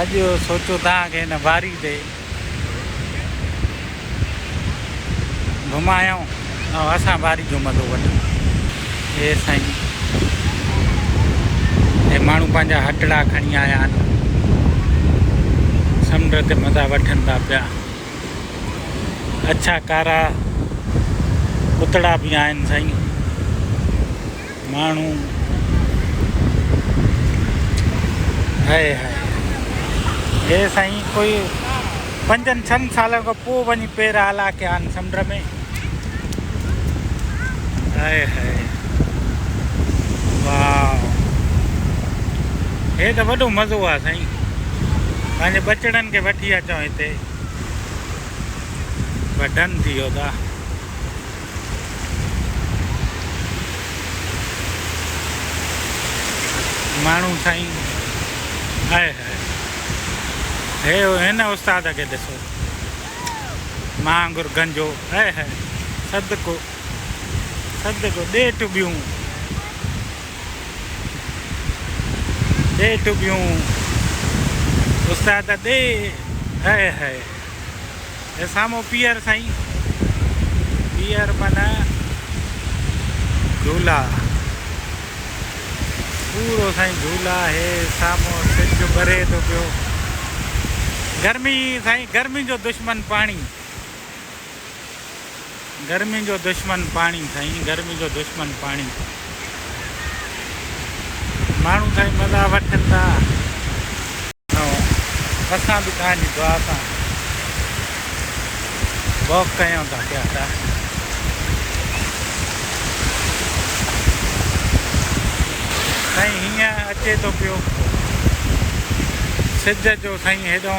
اڄ سوچو ٿا ڪي هن واري تي گهمايائون ۽ اسان واري جو مزو وٺون اي سائين هي ماڻهو پنهنجا هٽڙا کڻي آيا آهن سمنڊ تي مزا وٺن ٿا پيا اڇا ڪارا پتڙا به آهن سائين ماڻهو هائي هائي هي سائين ڪوئي پنجن ڇهن سالن کان پوء وڃي پير آلا ڪيا آهن سمنڊ ۾ هائي هائي واو هي ته وڏو مزو آهي سائين پنهنجي ٻچڙن کي وٺي اچو هتي بس ڊن ٿي ويو تا ماڻهو سائين هئ هئ هي هن استاد کي ڏسو مان وانگر گنجو هئ هئ صدقو صدقو ڏي ٽٻيون ڏي ٽٻيون استاد ڏي هئ هئ هي سامهون پيئر سائين پيئر من جھولا پورو سائين جھولا هي سامهون سج ٻري ٿو پيو گرمي سائين گرمي جو دشمن پاڻي گرمين جو دشمن پاڻي سائين گرمين جو دشمن پاڻي ماڻهو سائين مزا وٺن ٿا اسان به توهان جي دعا سان واڪ ڪيون ٿا پيا ٿا سائين هيئن اچي ٿو پيو سج جو سائين هيڏو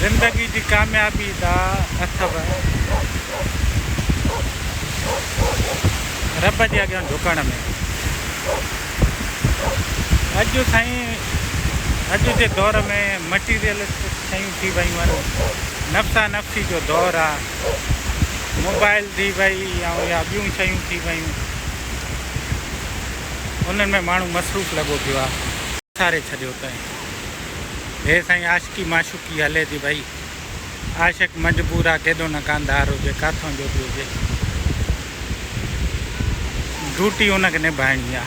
زندگي جي ڪاميابي دا اٿو رب جي اڳيان جھڪڻ ۾ اڄ سائين اڄ جي دور ۾ مٽيريلسٽڪ شيون ٿي ويون آهن نفسا نفسي جو دور آ موبائل ٿي وئي ۽ يا ٻيون شيون ٿي ويون انهن ۾ ماڻهو مصروف لڳو پيو آ ساري ڇڏيو تئين. هي سائين عاشقي معشوقي هلي ٿي ڀئي. عاشق مجبور آ ڪيڏو نه ڪانڌار هجي ڪاٿون جو به هجي. ڊوٽي ان کي نڀائڻي آ.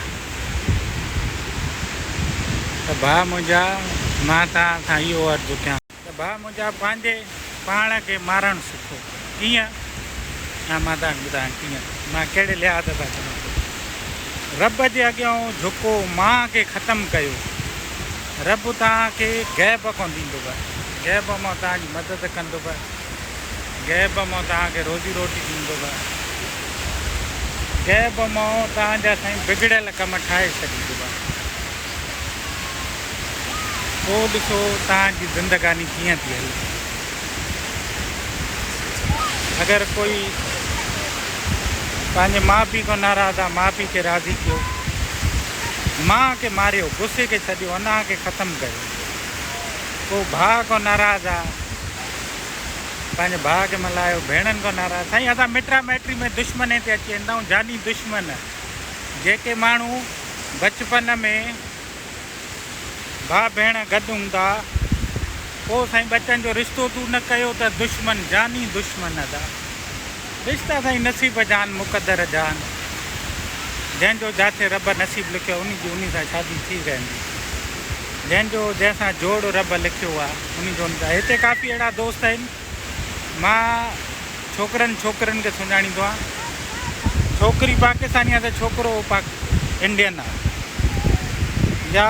ته ڀاء منهنجا مان توهان سان اهو عرض ڪيان. ته ڀاء منهنجا پنهنجي پاڻ کي مارڻ سکو. ڪيئن؟ ها مان تنهن کي ٻڌايان ڪيئن. مان ڪهڙي لحاظ سان چوان ٿو. رب جي اڳيان جهڪو مان کي ختم ڪيو. رب توهان کي غيب کان ڏيندو. غيب مان توهان جي مدد ڪندو. غيب مان توهان کي روزي روٽي ڏيندو. غيب مان توهان جا سائين بگڙيل ڪم ٺاهي ڇڏيندو. پوء ڏسو توهان جي زندگاني ڪيئن ٿي هلي. اگر ڪوئي پنهنجي ماء پيء کان ناراض آ، ماء پيء کي راضي ڪيو. ماء کي ماريو، غصي کي سڏيو، اناء کي ختم ڪيو. پوء ڀاء کان ناراض آ، پنهنجي ڀاء کي ملايو، ڀيڻن کان ناراض، سائين اسان مٽا مائٽي ۾ دشمني تي اچي ويندا آهيون، جاني دشمن. جيڪي ماڻهو بچپن ۾ ڀاء ڀيڻ گڏ هوندا پوء سائين ٻچن جو رشتو تون نه ڪيو ته دشمن جاني دشمن ادا رشتا سائين نصيب جان مقدر جان جنهن جو جاٿي رب نصيب لکيو انهي جي انهي سان شادي ٿي ويندي جنهن جو جنهن سان جوڙ رب لکيو آ انهي جو هتي ڪافي اهڙا دوست آهن مان ڇوڪرن ڇوڪرين کي سڃاڻيندو آهيان ڇوڪري پاڪستاني آهي ته ڇوڪرو پاڪ انڊين آهي يا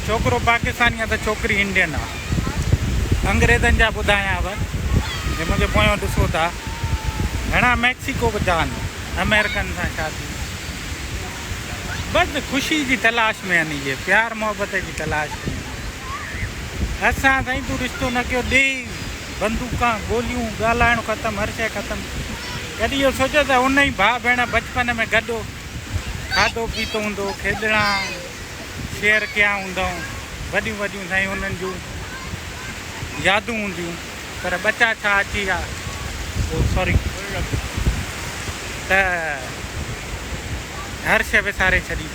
ڇوڪرو پاڪستاني آهي ته ڇوڪري انڊين آهي انگريزن جا ٻڌايانو جي منهنجي پويان ڏسو ٿا گهڻا ميڪسيڪو به جا آهن امريڪن سان شادي بس خوشي جي تلاش ۾ آهن اهي پيار محبت جي تلاش ۾ اسان سائين تون رشتو نه ڪيو ڏي بندوقان گوليون ڳالهائڻ ختم هر شيء ختم ڪڏهن اهو سوچيو ته ان ئي ڀاء ڀيڻ بچپن ۾ گڏ کاڌو پيتو هوندو کيڏڻا شيئر ڪيا هوندائون وڏيون وڏيون سائين انهن جون يادون هونديون پر ٻچا ڇا اچي ويا او سوري ته هر شيء وساري ڇڏي.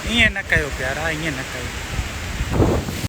ائين نه ڪيو پيارا ائين نه ڪيو.